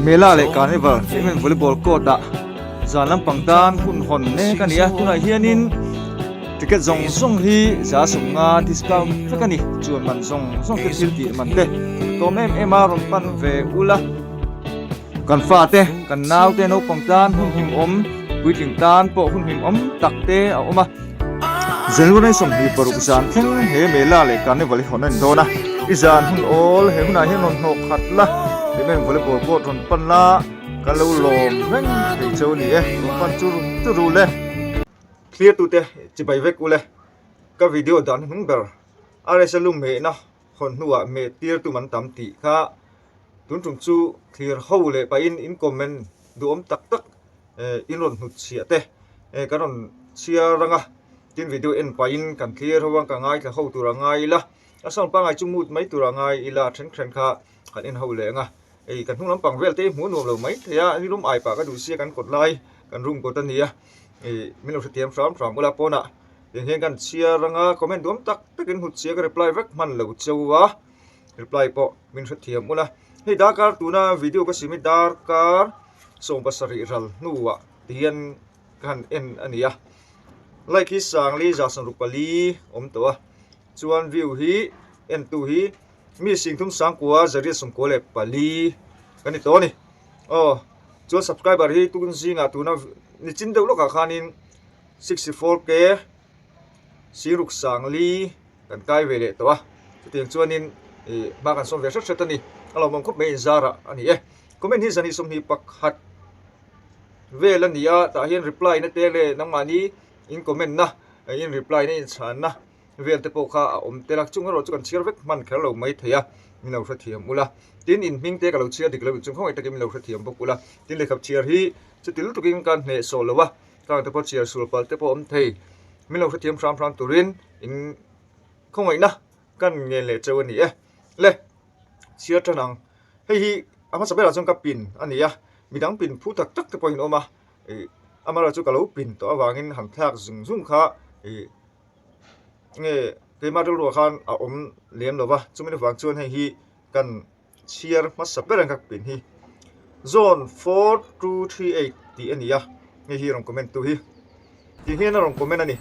Mela leh Carnival em em volleyball court ah zan lampang tan hun hawn mek a nia tunah hianin ticket zawng zawng hi za sawmnga discount vek a ni chuan man zawng zawng te thil tih man te tawm em em a rawn pan ve ul a kan fate kan naute naupang tan hun himawm puitling tan pawh hun himawm tak te a awm a. Zalur nei sawm hnih paruk zan thleng he Mela leh Carnival hi hawn a indawn a, i zan hun awl he hunah hian rawn hnawh khat la, kei main volleyball court rawn pan la, kan lo lawm reng thei chu a ni e, rawn pan chu rum chu ru le. Clear tu te chibai vek ule, ka video dan hi hnung ber, RSL lu mehna hawn hnuah meh tir tum an tam tih kha tun tum chu thlir ho leh pahin in comment duhawm tak tak, i rawn hnut chhiah te kan rawn chhiar rang a tin video en pai in kan clear ho vang ka ngaithla ho tur a ngai ila a sawn pangai chu mut mai tur a ngai ila a then then kha kan en ho leh ang a hei kan hnung lampang vel te hi hmuh nuam lo mai thei a ni hlawm ai pah ka duh sia kan kawt lai kan rum kawt a nia ih min lo hrethiam hram hram ula pawnah eng hian kan chhiar rang a comment duam tak tak in hnut chhiah ka reply vek hman lo chauh a. reply pawh min hrethiam ulh a hei darkar tuna video ka sim hi darkar sawm pasarih ral hnuah ti hian ka han en a ni a like hi sangli zahsan ruk pali awm tawh a chuan view hi en tu hi mi sing thum sangkua zariat sawmkua leh pali ka ni tawh a ni aw chuan subscriber hi tukin zingah tuna nichin deuh lawkah khanin sixty four k Sir Ruk Sang Li kan kai ve leh tawh a, chutiang chuanin ih hma kan sawm ve hret hret a ni. A lo mawm khawp mai inzara a ni e. Comment hi zani sawmhnih pakhat vel a ni a, tah hian reply na te leh nang mahni in comment na in reply na in chhan na vel te pawh kha a awm tel a, chung erawh chu kan chhiar vek hman kher lo mai thei a, min lo hrethiam ul a. Tin in hming te ka lo chhiar dik lo in chung khawngaih takin min lo hrethiam bawk ul a, tin lehkha chhiar hi chutil tukin ka hnehsawh lo a. Tlâng te pawh chiar sul pal te pawh awm thei. Min lo hrethiam hram hram turin in khawngawihna kan ngel leh cheu a ni e. Le, chhiar ṭan ang. Hei hi a hmasa berah chuan ka pin a ni a, mi dang pin phu tak tak te pawhin a awm a, ih, amaherawhchu chu ka lo pin tawh avangin han thlak zung zung kha ih, enge keimah rilru ah khan a awm lem lo va, chumin avang chuan hei hi kan chhiar hmasa ber ang ka pin hi zone four two three eight tih a ni a hei hi rawn comment tu hi ti hian a rawn comment a ni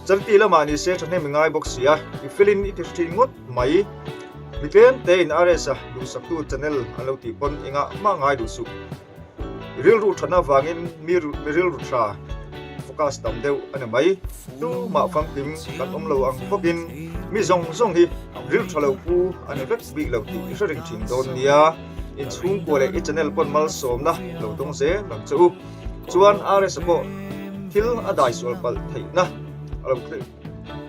chanti lamah ni se thahnem i ngai bawk sia i fill in i ti hrethin ngawt mai mi tlem te in RS a duhsak tu channel a lo tih pawn engah mah ngai duh suh. Rilru ṭhatna vangin mi rilru ṭha focus tam deuh a ni mai. Tumah famkim kan awm lo ang bawkin mi zawng zawng hi rilṭha lo pu a ni vek bik lo tih i hre ring ṭhin dawn nia in chhungkua leh i channel pawn malsawmna lo dawng zel ang che u. Chuan RS-a pawh thil a dai sual palh theihna a lo tleh.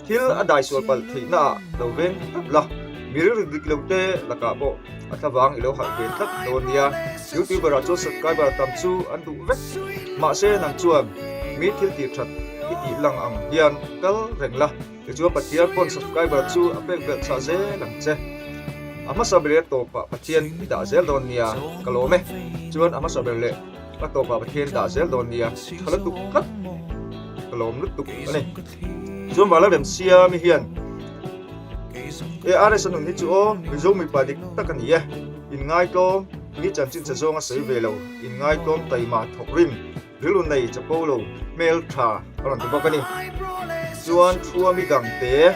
Thil a dai sual palh theihna ah lo veng tlat la, mi rilru dik lo te lakah pawh a thlavang i lo halh ve tlat dawn a nia. Youtuber ah chuan subscriber a tam chu an duh vek. Mahse nang chuan mi thil tir that i tih lang ang hian kal reng la, tichuan Pathian pawn subscriber chu a pek belh chhah zel ang che. A hmasa ber leh tawpah Pathian i dah zel dawn a nia ka lawm e. Chuan a hmasa ber leh. Ka tawpah ka thian dah zel dawn nia, ka la tuk tlat, ka lawm lutuk a ni. Chuan va la rem sia mi hian, ARS a nun hi chu aw, Mizo mipa dik tak a ni e, inngaitawm, tui chanchinchhe zawng a sawi ve lo, inngaitawm, taima thawk rim, rilru nei chapo lo, hmeltha a rawn ti bawk a ni. Chuan thua mi dangte.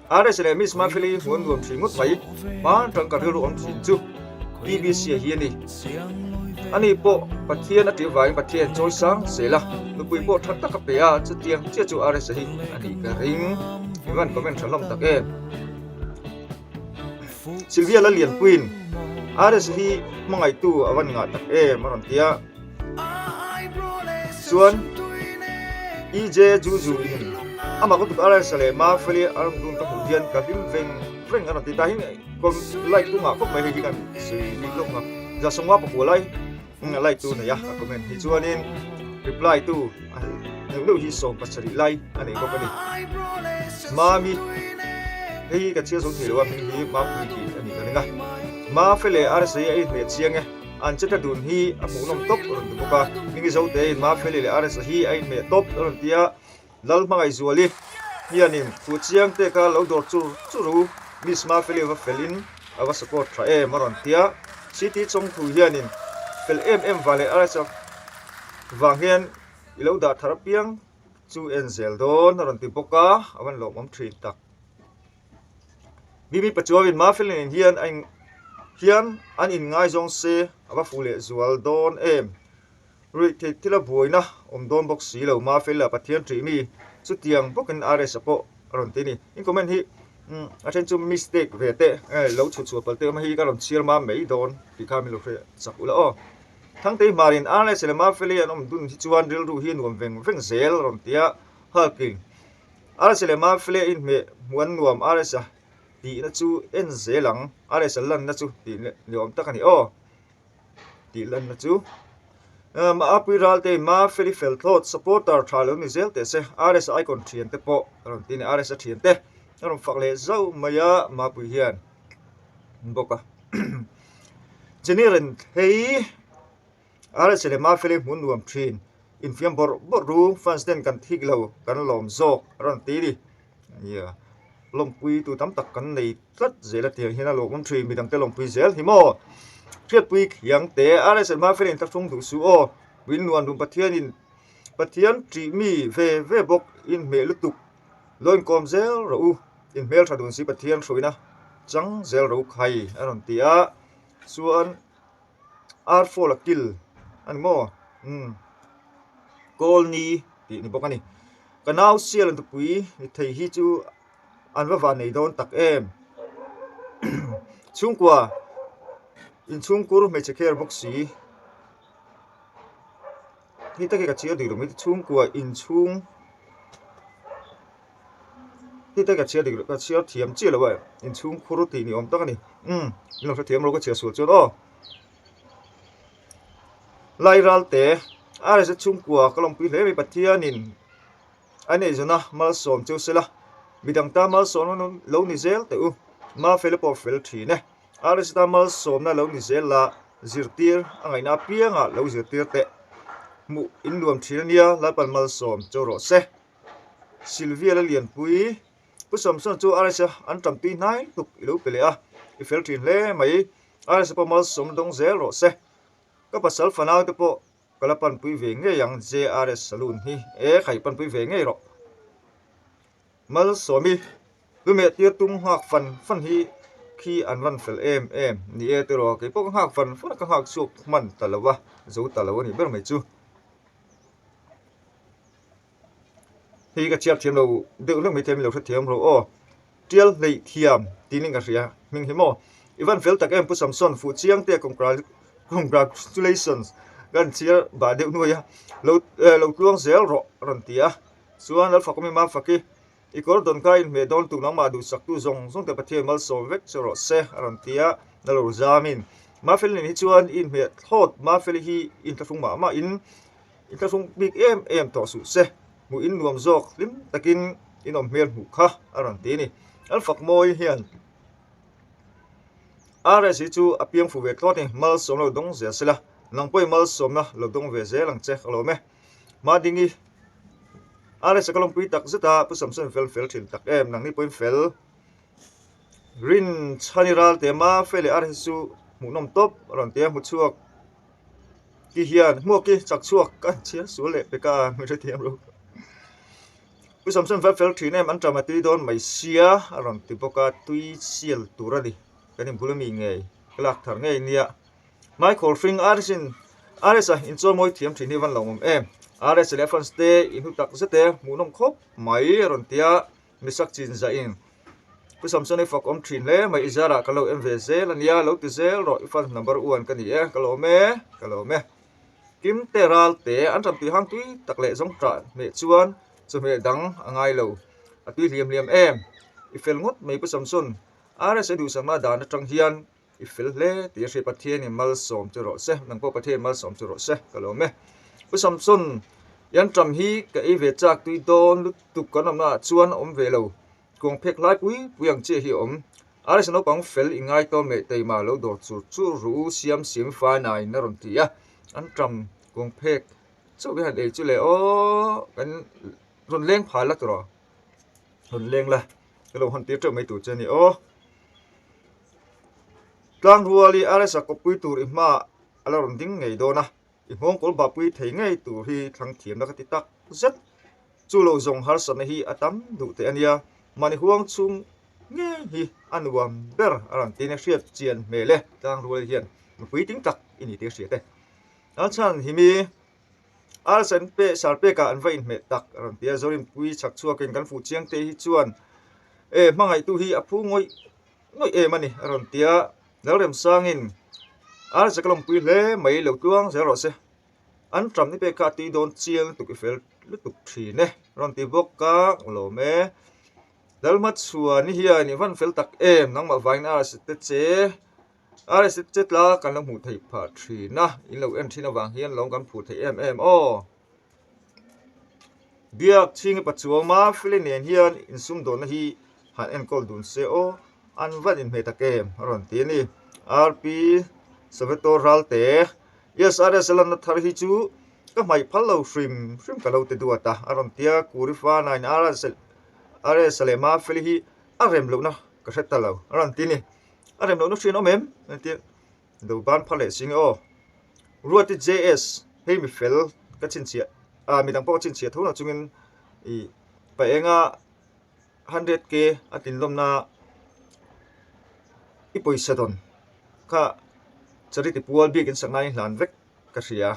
RSA leh Miss Markley hi huan nuam thin ngawt mai, hmang tang ka rilru awm thin chu BBC a hi a ni. Ani pawh Pathian a tirh vangin Pathian a chawi sang zel a, nupui pawh that tak a pe a, chutiang chiah chu RSA hi a nih ka ring. Mi van comment tha hlawm tak em. Silvia Lalianpuiin RSA hi hmangaitu a van ngah tak em a rawn ti a. chuan EJ Juju in ama ka kut Alex leh Mafeli an rawn dun ka hmuh hian ka hlim veng veng a rawn ti ta hi like tu nghah khawp mai hei hi kan sawi dik lawk a za sawng a pakual ai a like tu neih a a comment hi chuanin reply tu deuh deuh hi sawm pasarih lai a nei bawk a ni Mami hei hi ka chhiar zo thei lo a hming hi Mapui tih a nih ka ring a Mafele RSA a inhmeh chiang e An che tlat dun hi a hmuh nawm tawp a rawn ti bawk a, Mingizo te in Mafia leh leh RSA hi a inhmeh tawp a rawn ti a, Lal hmangaihzual i hian in thu chiang te kha lo dawr chur chur u, Miss Mafia Lee va fel in a va support tha em a rawn ti a, City Chawngthlu hian in fel em em vang leh RSA vang hian i lo dah thar apiang chu en zel dawn a rawn ti bawk a, a van lawmawm thin tak. Bimi Pachuavin Marfelin in hian a in hian an in ngaizawng se a va fuh leh zual dawn em. Ruih theih thil a buaina awm dawn bawk si lo Marfel la Pathian ṭih mi chutiang bawkin RS-a pawh a rawn ti a ni. In comment hi umm a then chu mistake ve teh eh lo chhut chhuah pal teh awm a hi ka rawn chhiar mam mai dawn tih kha min lo hre chak ula aw. Thangtei Hmarin RS leh Marfeli an awm dun hi chuan rilru hi a nuam veng veng zel a rawn ti a. Hulk in. RS leh Mafle inhmeh hmuan nuam RS a tihna chu en zel ang, RS a lanna chu tih leh ni awm tak a ni aw, tih lanna chu um Apui Raltein Mafel i fel thlawt supporter tha lo ni zel teh se, RS a icon thian te pawh a rawn ti a ni, RS a thian te a rawn fak leh zauh mai a Mapui hian bawk a Jenny Renthei. RSA leh Mafia leh hmun nuam thin infiam bawrh bawrh ru fans ten kan thik lo kan lawm zawk a rawn ti ni nia lawmpui tu tam tak kan nei tlat zel atia hian a lawmawm thin midang te lawmpui zel hi maw hriatpui kiang te RSA Mafia in thlachhung duh suh aw min nuan dun Pathianin Pathian tih mi ve ve bawk in hmeh lutuk lo inkawm zel rawh u in hmel tha dun si Pathian hruaina chang zel ro khai a rawn ti a chuan. Ar fawl a kil a ni maw? Umm. Kawl ni tih a ni bawk a ni. Ka nau Sialantapui ni thei hi chu an va van nei dawn tak em. Chhungkua inchhungkur hmeichhe kher bawk si. Ni tak hi ka chhiar diklo mite chhungkua inchhung Ni tak hi ka chhiar diklo ka chhiar thiam chiah lo a inchhung khur tih ni awm tak a ni umm min lo hrethiam lo ka chhiah sual chuan aw Lairal te RSZ chhungkua ka lawmpui hle mai Pathianin a neihzawna malsawm che u sela midang ta malsawm lo ni zel teh u ma fel a pawh fel thin e. Paracetamol sawmna lo ni zel la, zirtir a ngaihna apiangah lo zirtir teh. Hmuh in nuam thin ania, Lalpan mal sawm cho rawh se. Silvia la lianpui, Pu Samson chu Arise an tam tui hnai hluk i lo pe leh a, i fel thin hle mai. Arise pawh mal sawmna dawng zel rawh se. Ka pasal fanau te pawh ka la panpui ve ngei ang JRS Salon hi, e khaih panpui ve ngei rawh. Malsawmi, Lu meh tir tum nghak fan fan hi khi an rawn fel em em ni e tiraw, kei pawh ka nghak fan fan a, ka nghak chhuak hman ta lo a, zo ta lo a nih ber mai chu. Hei hi ka chhiar thiam lo deuh hlek mai thei a, mi lo hre thiam rawh aw. Tial hleih thiam tiin i ka hria hming hi maw, i van fel tak em Pu Samson, fuh chiang te congratulations ka rawn chhiar bah deuh nuai a, lo lo tluang zel rawh a rawn ti a. Chuan Alpha kawm ema fak i, i kawr dawn kha inhmeh dawn tu nangmah duhsaktu zawng zawngte Pathian malsawm vek che rawh se a rawn ti a, na lo zam in. Mafeli nen hi chuan i inhmeh thlawt Mafeli hi in tlahrung mah mah in i tlahrung bik em em tawh suh se, hmuh in nuam zawk hlim takin in awm hmel hmuh kha a rawn ti a ni. Alpha mawi hian RS hi chu a piang fuh ve thlawt ni, malsawm lo dawng zia sela, nang pawhin malsawmna lo dawng ve zel ang che ka lawm e. Mah ding i. Alex-a ka lawmpui tak zet a, Pu Samson fel fel thin tak em, nang ni pawhin fel. Rin chhan i ral te mah, Fe leh Alex-a chu hmuhnawm tawp a rawn ti a, hmu chhuak ki hian, hmuak ki chak chhuak ka han chhiar sual leh pe ka, min hrethiam lo. Pu Samson fel fel thin em, Anṭam a tui dawn mai sia a rawn ti bawk a, tui sial tur a ni, kan inbul a mi ngei, ka lak thar ngei nia. Hmai khawr hring RS in RS a inchawlmawi thiam thin hi van lo awm em RS leh France te inhnu tak zet e hmuhnawm khawp mai a rawn tia mi sak chin zah in pu Samson i fuck awm thin hle mai i zara ka lo en ve zel a nia lo ti zel rawh i fans number one ka ni e ka lo awm e ka lo awm e Kim te ral te an ram tui hang tui tak leh zawng tah hmeh chuan chawhmeh dang a ngai lo a tui hliam hliam em i fel ngawt mai pu Samson RS i duhsakna dan atang hian i fel hle tih a hriat pathian in malsawm chu rawh se nang pawh pathian in malsawm chu rawh se ka lawm e pu samson yan tam hi ka ei ve chak tui dawn lutuk kan awmna ah chuan a awm ve lo kuang phek hlai pui pui ang chiah hi a awm rsa naupang fel i ngai tawm leh tei mah lo dawr chur chur ru u siam siam i fai nai in a rawn ti a an tam kuang phek chauh hi han ei chu le aw kan rawn leng phal la tawrh rawn leng la. Ka lo han tir teuh mai tur che ni aw. Tlangruali RS-a kawppui tur i hma a la rawn ding ngei dawn a, i hmawngkawl bapui thei ngei tur hi thlang thiamna ka ti tak zet. Chu lo zawng harsatna hi a tam duh teh a nia, mahni huang chhung ngei hi a nuam ber a rawn ti nge hriat chian hmel e, Tlangruali hian mipui ding tlak i ni tih a hria teh. An chhan him i. Ar san pek sar pekah an va inhmeh tak a rawn ti a, Zorimpuii chhak chhuakin kan fuh chiang te hi chuan e hmangaihtu hi a phu ngawih ngawih em a ni a rawn ti a, Lalremsangin Ar Zakalawmpuii hle mai lo tluang zel rawh se, an ṭam ni pek kha a tui dawn chiang lutuk i fel lutuk ṭhin e a rawn ti bawk a, Nghlawm e Lalhmachhuani hian i van fel tak em nangmah vangin Ar a si te che. Rsa che tla kan lo hmuh theih phah thin a in lo en thin avang hian lawng kan phuh theih em em aw biak chhing i pachuam a file nen hian in sum dawn na hi han enkawl dun se aw an vat in hmeh ta kem a rawn ti a ni rp Soveto ral te yes rsa lan na thar hi chu ka hmaih phal lo hrim hrim ka lo ti duat a a rawn ti a kuri fa na in rsa leh mafia li hi a rem loh na ka hre ta lo a rawn ti a ni. a rem lohna hriain awm em kan ti a do ban pha leh sing e aw ruati JS hei mi fel ka chhinchhiah ah mi dang pawh ka chhinchhiah tho lo chungin ih pa enga hundred k a tin lawm na i pawisa dawn kha charity pual biak in sak nai in hlan vek ka hria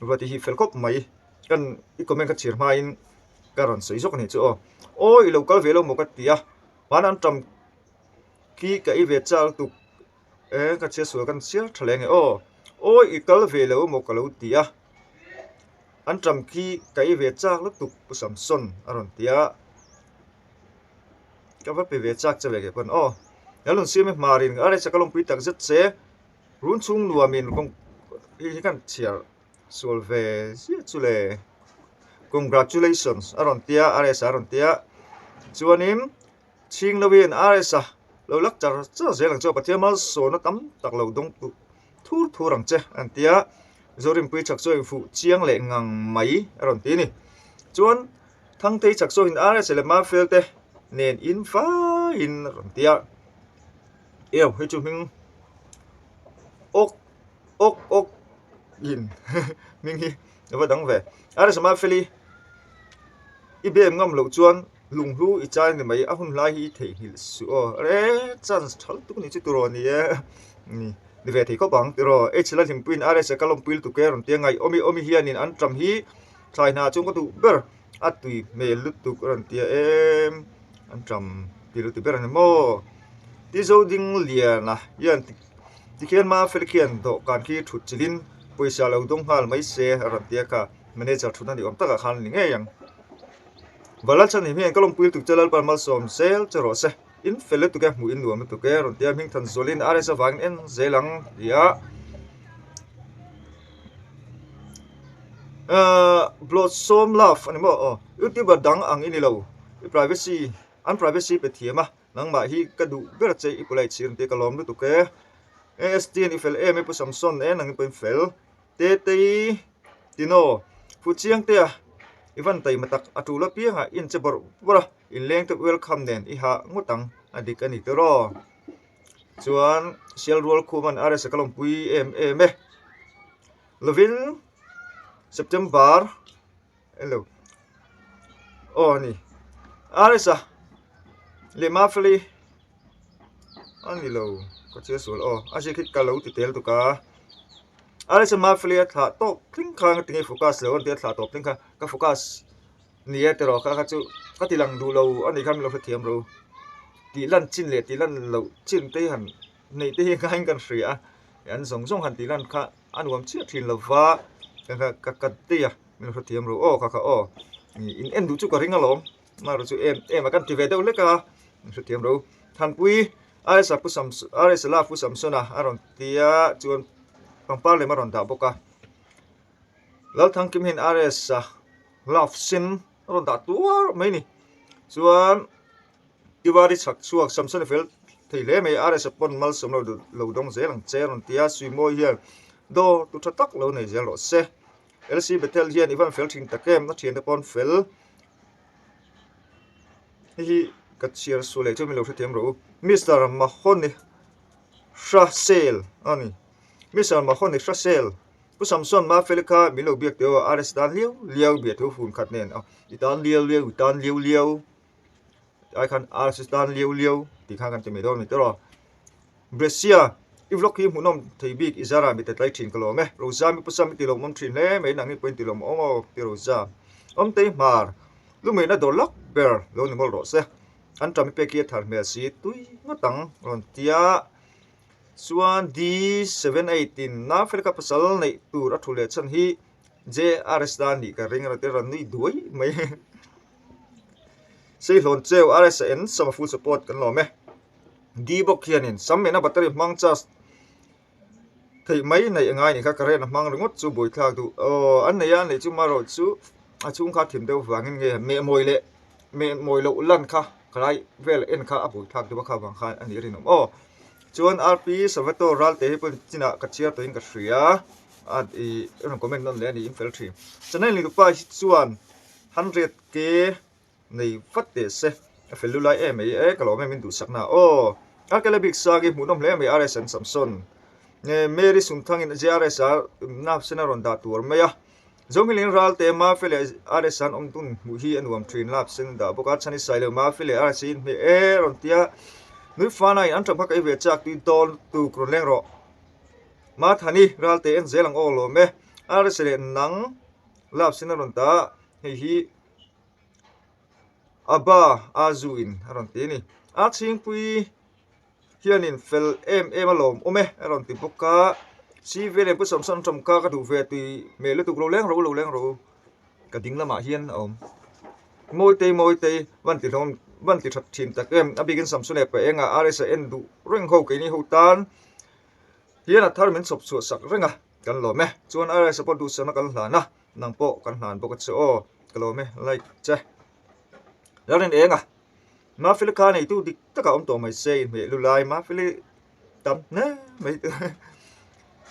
ruati hi fel khawp mai kan i comment ka chhir hmain ka rawn sawi zawk a nih chu aw aw i lo kal ve lo maw ka ti a vana an ṭam Ki ka i ve châk tuk e, ka chhiatsual ka rawn siar ṭha hle nge aw. Awi i kal ve lo emaw ka lo ti a, an ṭam khi ka i ve châk lutuk pu Samson a rawn ti a, ka va pe ve châk che ve keh pawn aw. Ka rawn siam e hma rin a resa ka lawmpui tak zet se, run chhung nuamin kawng khi hi khan chhiar sual ve ziah chu le. Congratulations a rawn ti a, a resa a rawn ti a, chuanin. chhing lo in rs a lo lak char char zel ang chu a pathian malsawna tam tak lo dawng tu thur thur ang che a rawn ti a Zorimpuii Chaksawi in fuh chiang leh ngang mai a rawn ti a ni chuan Thangthei Chaksawi in rs leh Marfel te nen in fai in a rawn ti a eo hei chu hming awk awk awk in hming hi. ka va dang ve a resa mah Feli i bem ngam loh chuan lunghlu i chai ni mai a hun hlai hi i theihnghilh suh aw e chance tha lutuk ni chu tur aw ni e ni ni ve thei khawp ang tiraw h la hlim puiin rsa ka lawmpui lutuk e rawn ti a ngaihawmi awmi hianin an ṭam hi thlai hna chung ka duh ber. a tui hmel lutuk a rawn tia em an ṭam ti lutuk ber ang hi maw ti zo ding liana hian tikhian mafia khian dawhkan khi ṭhut chilhin pawisa lo dawng nghal mai se a rawn tia kha manager ṭhut na ni awm takah khan a ni ngei ang Balalchhan in hian ka lawmpui lutuk che Lalpan malsawm zel che rawh se. in fel lutuk e hmuh in nuam lutuk e a rawn tia hming than zawlin a resa vangin en zel ang tia ahh blossom love a ni maw aw youtuber dang ang i ni lo i privacy an privacy pe thiam a nangmah hi ka duh ber che i polite si a ni tia ka lawm lutuk e ast an i fel em e pu samson en ang in pawhin fel tetei tino fu chiang te a i van taima tak a tul apiang ah in che bawrh bawrh a. I leng tuk welcome nen i ha ngawt ang a dik a ni tiraw. Chuan sial rual khu man RS a ka lawm pui em em e. Lovin September elo aw ni RS a leh Mafeli a ni lo ka chhe sual aw a ziak hi ka lo ti tel tuk a RS a Mafeli a thlah tawp tling khan ka ti nge focus lo an tia thlah tawp tling khan ka focus nia tiraw kha kha chu ka ti lang duhlo a ni kha min lo hrethiam ro tih lan chin leh tih lan loh chin te hi han hneih te hi a ngai in ka han hria a an zawng zawng han tih lan kha a nuam chiah thin lo va kha kha ka ka ti a min lo hrethiam ro aw kha kha aw ih in en duh chu ka ring alawm mahra chu em em a ka han ti ve deuh hlek a min hrethiam ro thanpui RSA pu sam RSLA pu samsona a rawn tia chuan pangpar lem a rawn dah bawk a. Lalthangkim hian RS a glove sen a rawn dah tuar mai a ni chuan diwali chhak chhuak sam sena fel thei hle mai a RS a pawn malsawm lo dun lo dawng zel ang che a rawn ti a suimawi hian dawr tu tha tak lo nei zel rawh se LC Bethel hian i van fel thin tak em a thiante pawn fel hei hi ka chhiar suh leh chu mi lo hrethiam ro u Mister Mahone Hra Sale a ni. Mi Salma ho ni hrasel. Pu Samson ma fel kha min lo biak teu a, a rest dan liau liau bia thu hun khat nen a i tan liau liau i tan liau liau ai khan a rest tan liau liau tih khan kan ti mai dawn ni tawh. Brescia i vlog hi hmuhnawm thei bik i zara mi ta tlai thin ka lawm e, Roza mi pusa mi ti lo awm thin hle mai a, nang hi pawhin ti lo awm awk tih Roza. Awmtei hmar, lu mehna dawr lak ber lo ni ngawlh rawh se, an ṭan mi pek hi a thar hmel si tui ngawt ang a rawn ti a. Chuan D seven eight in nang fel ka pasal neih tur a thu leh chhan hi JRS dan anih ka ring erawh te rawn nui duai mai e. Seihlawn cheu RS a en sama full support kan lawm e. D bawk hianin sam mehna battery hmang charge theih mai neih a ngai nih kha current a hmang ringawt chu bawi thlak duh aww an nei a an nei chu marawh chu a chhungkha thim deuh vangin nge mehmawih leh-- meh mawi loh lan kha ka lai vel en kha a bul thlak duh kha vang khan a nih a rinawm aw chuan rp savato ral te hi pawn chinah ka chhiar tawhin ka hria a ih i rawn comment nawm leh a nih in fel thin chanel nih pa hi chuan hundred k nei vat leh se a fel lu lai em mai e ka lawm em in duhsak na aw rkla bik sang hi hmuh nawm hle mai rs and samson nge mary sungthang in jrs a nap sen a rawn dah tur mai a. Zawngilin ralte Mafi leh RS an awm tun hmuh hi a nuam thin lak sen a dah bawk a, Chhani Sai lo Mafi leh RS in hme e a rawn ti a, Nui Fana in an ṭam kha kei ve chak tui dawn tuk rawn leng rawh, Ma Thani ralte en zel ang aw lawm e, RS leh nang lap sen a rawn ta a, hei hi Aba Azu in a rawn ti a ni, a Chhingpui. hianin fel em em alawm awm e a rawn ti bawk a sivia lem pawh sawmsawm an tawmka ka duh ve tui meh lutuk lo leng ro lo leng ro ka ding lamah hian a awm mawi te mawi te van ti hlawm van ti that thin tak em a bikin sam sune pah enga rs a en duh reng ho keini ho tan hian a thar min chhawp chhuah sak reng a kan lawm e chuan rs a pawh duhsakna kan hlan a nang pawh kan hlan bawk a che aw ka lawm e like che ral in eng a. Mafia kha neitu dik taka awm tawh mai se inhmeh lu lai mafia tam hle mai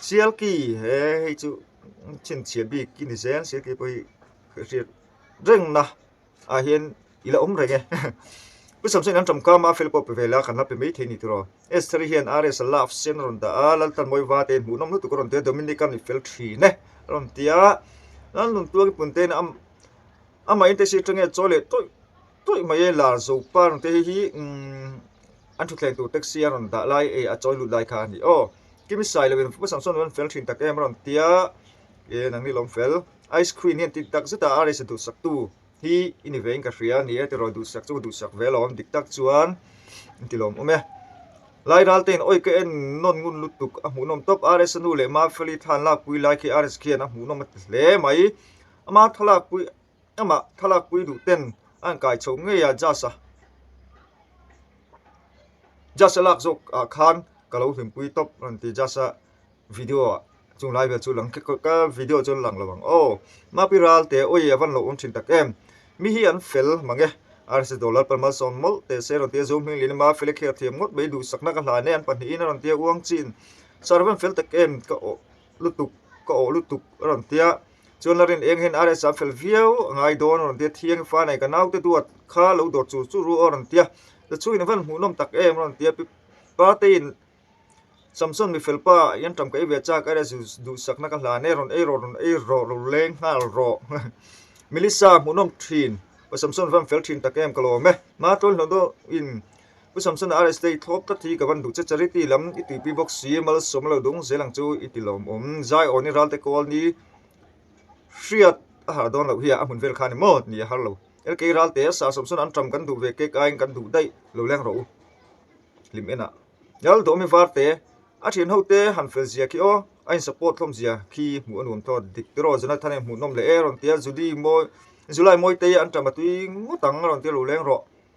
sialki he hei chu chhinchhiat bik i ni zel sialki pawh hi hriat reng na ah hian ila awm reng e pu samsen an ṭawmka mafia pawh pe vela kan la pe maithei ni tiro s three hian rs a love sen a rawn dah a laltan mawi va te hmuhnawm lutuk a rawn tir a dominica an i fel ṭhin e a rawn ti a lalnuntuak i punte in a am. Amahein te si chenge chaw leh tawih tawih mai e lar zo par ang te hi hi umm an thutthleng tur taxi a rawn dah lai e a chawi lut lai kha a ni aw kimisai lo in fuh sam sawn fel thin tak em a rawn tia e nang nilo awm fel ice cream hian tih tak zeta a race duhsak tu hi i ni ve in ka hria a ni e tiraw duhsak chu ka duhsak ve lo awm dik tak chuan in ti lawm awm e lai ral te in awih ka en nawn ngun lutuk a hmuhnawm tawp a race a nu leh mafia li thla an lakpui lai khi a race khian a hmuhnawm a ti hle mai. Amah thalakpui amah thalakpui duh ten a rawn kai chho ngei a judge a, judge a lak zawk ah khan ka lo hlimpui tawp a rawn ti judge a video ah chung lai vel chu lang thlek tawp ka video chuan lang lo ang aw mahpi ral te awii a van lo awm thin tak em mi hi an fel mang e rsa dollar pal malsawn mawlh teh se a rawn ti a zo hming leh lama fel a kher thiam ngawt mai duhsak na ka hlan e an pahnih in a rawn ti a uang chin sir a van fel tak em ka awh lutuk ka awh lutuk a rawn ti a. Chuan la rin eng hian RS a fel viau a ngai dawn a rawn tia thiang i fa nei ka naute duat kha lo dawt chur chur ru a rawn tia ta chhuin a van hmuhnawm tak em a rawn tia pi pate in Samson mi felpa hian ṭam ka i ve chak RS zu duhsakna ka hlan e rawn ei rawh rawn ei rawh lo leng nghal rawh Melissa hmuhnawm ṭhin Samson van fel ṭhin tak em ka lawm e ma tawlhnaw deuhin. U Samsona RS te i thlawp tlat hi ka van duh che charity lam i tuipi bawk si malsawm a lo dawng zel ang chu i ti lawm awm zai aw ni ral te kawl ni hriat a har dawn loh hiya a hmun vel khan emaw ni a har lo lk ral te sir Samsona an ṭam kan duh ve kek aiin kan duh daih lo leng rawh u hlim en a lal dawh mi var te a ṭhian ho te han fel zia khi aw a in support thlawm zia khi hmuh a nuam tho a dik tiraw Jonathan in hmuh nawm leh e a rawn ti a Julie mawi July mawi te hi an ṭam a tui ngawt ang a rawn ti a lo leng rawh.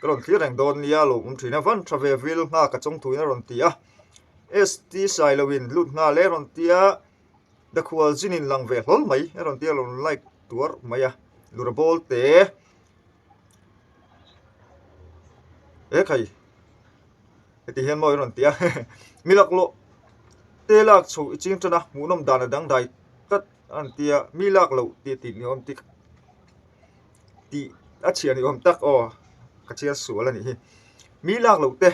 ka rawn thlir reng dawn nia lo awm thin avan tha ve vil nghak a chawng thuin a rawn ti a ST sailo in lut nghal e a rawn tia the khual zin in lang ve hlawl mai a rawn tia a rawn like tuar mai a lura bawl teh e e khai heti hian mawi a rawn ti a mi lak lawh te lak chho i ching tan a hmuhnawm dan a dangdai tlat a rawn tia mi lak loh tih tih ni awm tak-- tih a chhiah ni awm tak aw ka chiar sual a nih hi mi lak loh te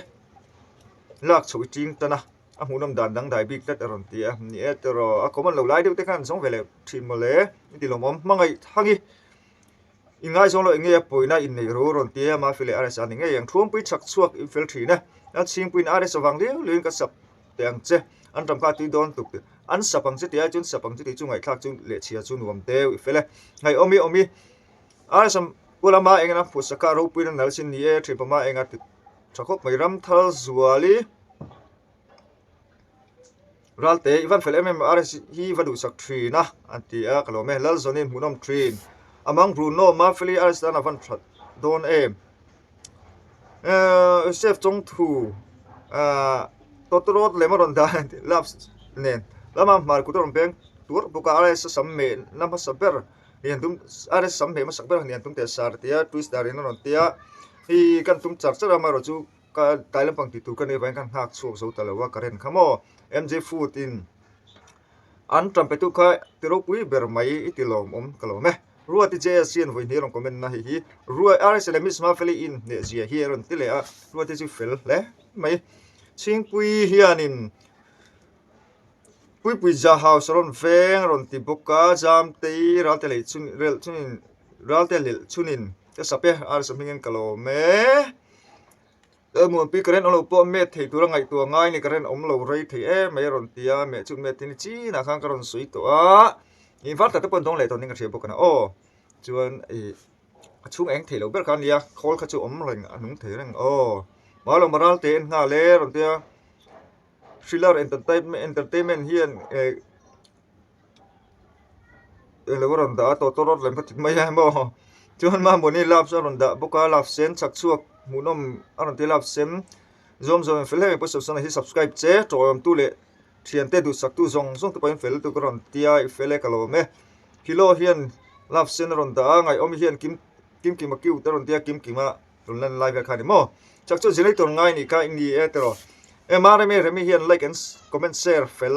lak chhoh i ching tan a a hmuhnawm dan dangdai bik tlat a rawn ti a ni e tawh rawh a kawman lo lai deuh te khan zawng ve loh thin mawle i ti lawm awm hmangaih thang i i ngaizawng loh enge a pawina in neih rur a rawn ti a mahfile rsr ni ngei ang thuam pui chhak chhuak in fel thin a a chhing puiin rs a vang liau liau in ka sap. teh ang che, an ram kha a tui dawn tuk teh. An sap ang che ti ai chuan sap ang che tih chu ngaihthlak chu leh chhia chu nuam deuh i fel e. Ngaihaw mi awm i rsam Pu Lama eng ina phusa kha ropuiin a nal sin ni e, Thinpha Ma eng a ti tha khawp mai. Ramthal Zuali, Raltei i van fel em em a, RSG hi i va duhsak thin a an ti a ka lawm e. Lalzawni hmuhnawm thin, Amang Bruno, Mafeli RSG tan a van that dawn em. Ahh chef chawngthu ahh tawtawrawt lem a rawn dan a nih love nen lam a hmar kut a rawn beng tur bawk a a raisa sam meh na hmasa ber ni an tum a raisa sam meh na hmasa ber ni an tum teh a sar a tia twist dar in a rawn tia hei hi kan tum char char a amaherawh chu ka tlai lampang tih tur ka nih avai in ka han nghak chhuak zo ta lo a ka ren kha maw MJ food in an tlan pe tu kha ti ropui ber mai i ti lawm awm ka lawm e. Ruai ti che asi an vawi hnei rang comment na hei hi ruai RSL leh Miss Mafia League in hneh zia hi a rawn ti leh a ruai te chu fel hle mai Chhingpui hianin Puipui Zah House a rawn veng a rawn ti bawk a Jamtei Ralte leh chun rel chunin Ralte lel chunin ka sa pe RSL hming in ka lawm e. He hmun pi ka ren awmlo pawh met thei tura ngaihtuah ngai ni ka ren awmlo rei thei em mai a rawn ti a meh chu met hi ni chin ah khan ka rawn sawi tawh a ih var tak te pawh an dawng leh tawh ning ka hria bawk a na aw chuan ih a chhung eng theilo ber kha nia khawl kha chu awm reng a nung thei reng aw mahlo moral te en nghal e rawn tia thriller entertainment hian eh. i lo rawn dah a tawh tawh rawt lem ka ti mai a emaw chuan mamawh ni love chu a rawn dah bawk a love sen chhak chhuak hmuhnawm a rawn ti a love sen zawm zawm em fel em em pawh sawn sawn ah hi subscribe che tawhawm tu leh thiante duhsak tu zawng zawng te pawh in fel tu ka rawn ti a i fel e ka la awm e Hilo hian love sen a rawn dah a ngaihawm i hian kim kim kima cute a rawn ti a kim kima rawn lan lai vel kha a ni maw chak chu zirei tur ngai a ni kha i nge e tiraw ema remi remi hian like and comment share fel.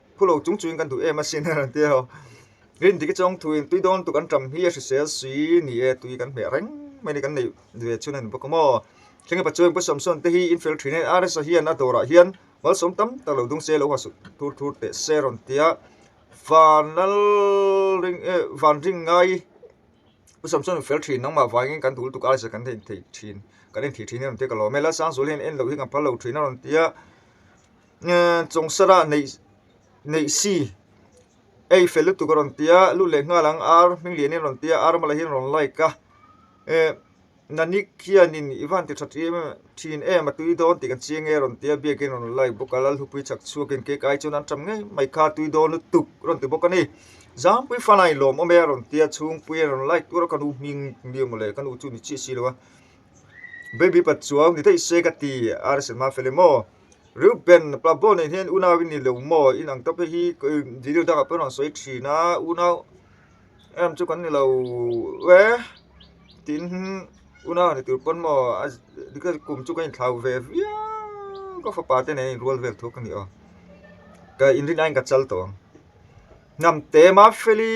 Khu lo chung chuin kan duh em asin a rawn ti a haw. Rin dik hi chuan thu in tui dawn tuk an ram hi a hrisel sui ni e tui kan hmeh reng mai ni kan neih ve chhun a ni bawk a maw. Thleng epa chuan Pusawn Sawn te hi infial thin e RS a hian a dawr ah hian malsawm tam tak lo dungse lo hasuk thur thur teh se a rawn ti a. Van lal ring e van ring ngai Pusawn Sawn infial thin nang mah vangin kan dul tuk RS a kan en thei thin kan en thih thin a rawn ti a ka lawm e. Lalsang Zul hian en loh hi kan phal lo thin a rawn ti a. Eee Chawngsara neih neih si ei fel lutuk a rawn ti a lut leh nghal ang ar hming lianin a rawn ti a ar awm a lahin a rawn like a ee Nanik hianin i van ti tha tih em em thin em a tui dawn tih ka chiang e a rawn ti a biakin a rawn like bawk a Lalhupui chhak chhuakin cake ai chuan an tam ngei mai kha tui dawn lutuk a rawn ti bawk a ni Zangpui fana in lawm awm e a rawn ti a Chhungpui a rawn like tur a ka nu hming hmi emaw le ka nu chu ni chiah si lo a Baby pat chuau ni daih se ka ti a arsa fel emaw. Reuben pa Bo nen hian unau i ni lo maw in ang ta pawh hi Juda dangah pawh i rawn sawi thin a, unau em chu kan ni lo e tiin unau a ni tur pawn maw a tikhian kum chu ka inthlau ve viau ka fapa te nen a inrual vel thuk a ni aw ka inrinaiin ka chal tawh ang hnam te Maphelli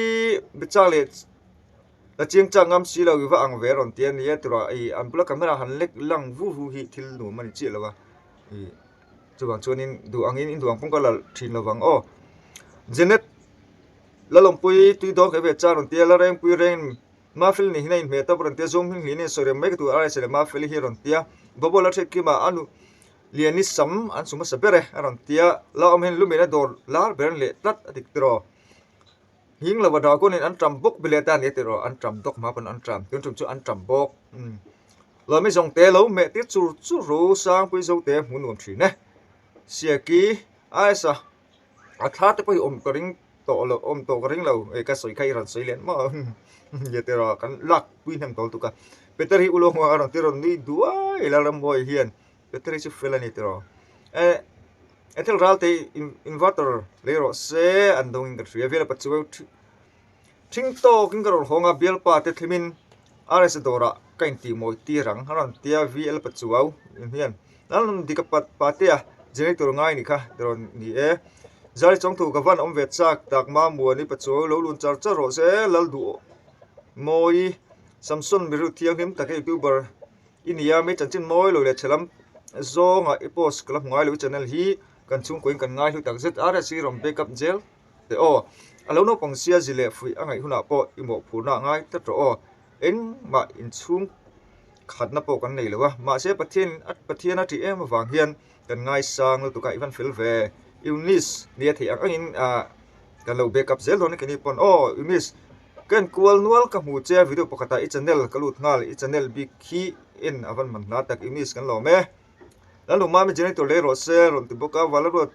Bichak leh Ka chiang chak ngam si lo, iva ang ve rawn ti a ni e, tura ih an bula camera han lek lang vu vu hi thil nuam a ni chiah lo a, ih chuvang chuanin duh angin in duh ang pawng ka la thin lo vang aw. Janet, Lalawmpui tui dawn kha i ve chang rawn ti a, Larengpui reng Mafil nih hin a inhmeh tawp rawn ti a, zawng hming hlihin a insawi reng mai ka tur a Raisa leh Mafil hi rawn ti a, Bawbawla Thekkim ah a nu Lian i sam an sum hmasa ber e a rawn ti a, Laawm hin lu mehna dawr lar ber an leh tlat a dik tir aw. Hing lova dragon-in an ṭam bawk bile ta nia tih rawh, an ṭam dawk hma pawn an ṭam, tun ṭum chu an ṭam bawk. Lomi zawng te lo meh tir chur chur ru Sangpuii zo te hmu nuam ṭhin e. Siaki, Aisa, a thla te pawh hi awm ka ring tawh lo, awm tawh ka ring lo, e ka sawi kha i rawn sawi len maw nia tih rawh, kan lakpui hnem tawl tuk a. Peter hi u lo nghua a rawn ti rawn nui duai ila ramhuai hian battery chu fel a ni tiraw eh he thil ral tei inverter leh rawh se an dawng in ka hria vela pachu ṭhing tawk in ka rawn hawng a bialpa te thlim in rsa dawr ah ka in tih mawi tir ang an rawn ti a vl pachu au em hian an rawn dik a pate a generator ngai ni kha ti rawn ni e zari chawng thu ka van awm ve chak tak mamua ni pachu au lo lun char char rawh se lal duh mawi samson mi ru thianghlim tak youtuber -- i nia mi chanchin mawi lo leh thelam zawngah i post ka la hmu ngai lo i channel hi kan chhungkua in kan ngai hlu tak zet a rsi ram back up zel teh aw a lo naupang sia zi leh fuih a ngaih hunah pawh i mawhphurhna ah ngai ta tawh aw engmah inchhung khatna pawh kan nei lo a mahse pathian in pathian a tih em avang hian-- kan ngaisang lutuk ah i van fel ve eunice nia theih ang ang in ah kan lo back up zel dawn a ke ni pawn aw eunice ka en kual nual ka hmu che video pakhat ah i channel ka lut nghal i channel bik hi en a van man hla tak eunice kan lawm e lalnu mami generator leh rawh se a rawn ti bawk a valeruat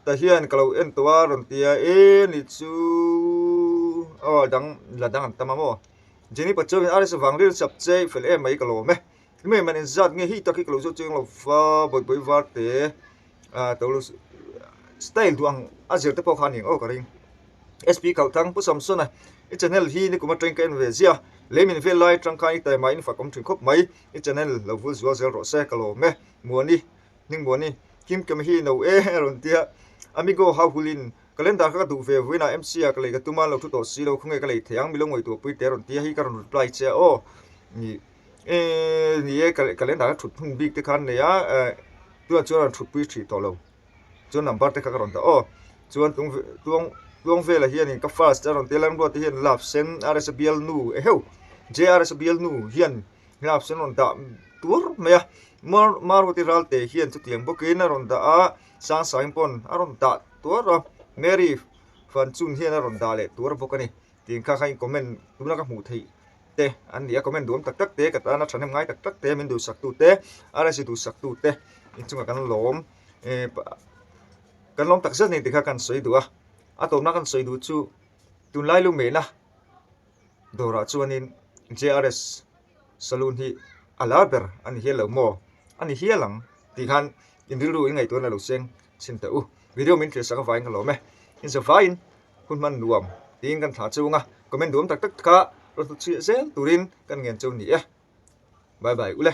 ta hian ka lo en tawh a rawn ti a e ni chu aw dang la dang an tam a maw jenny pachomi rsvang rilchap che i fel em mai ka lawm e. Engmah engmah nen zat nge hei tak hi ka lo zawt che ang lo fa bawihbawi var te ah to lo style duh ang a zir te pawh kha a ni ang aw ka ring SP Kalthang Pu Samsona i channel hi nikuma ṭain ka en ve zia lei min vel lai atang khan i taima in fak awm ṭhin khawp mai i channel lo vul zual zel rawh se ka lawm e Muani hning Muani Kim Kemi hi no e a rawn tia Amigo hau hul in calendar kha ka duh ve vuin a MC ah ka lei ka tum a an lo ṭhu tawh si lo khawnge ka lei thei ang mi lo ngawih tur pui te a rawn tia hei ka rawn reply che aw ni. eee ni e ka ka leh dan a thut hmun bik te khan a nei a ehh tunah chuan a rawn thutpui thin tawh lo chuan number te kha ka rawn dah aw chuan tlung ve tlung tlung velah hian in ka fast a rawn tel a rimruat te hian in lap sen r s a bialnu eheu j r s a bialnu hian lap sen a rawn dah tur mai a mar maruti ralte hian chutiang bawkin a rawn dah a sangsain pawn a rawn dah tuar a mary fanchun hian a rawn dah leh tur bawk a ni. tih kha kha in comment tuna ka hmuh theih te an ni a comment duh awm tak tak te ka tana thahnem ngai tak tak te min duhsak tu te R.A.C duhsak tu te inchung ah kan lawm ehh kan lawm tak zet a ni tih kha kan sawi duh a a tawpna kan sawi duh chu tunlai lu mehna dawrah chuan in JRS Salun hi a la ber a ni hial lo maw? A ni hial ang tih khan in rilru in ngaihtuahna a lo seng chhin teh u. Video min thlir saka vai ka lawm e. In za vaiin hun hman nuam tiin kan thlah chung a, comment duam tak tak kha rawt hlut chhiah zel turin kan ngen chau ni e. Bye bye u le.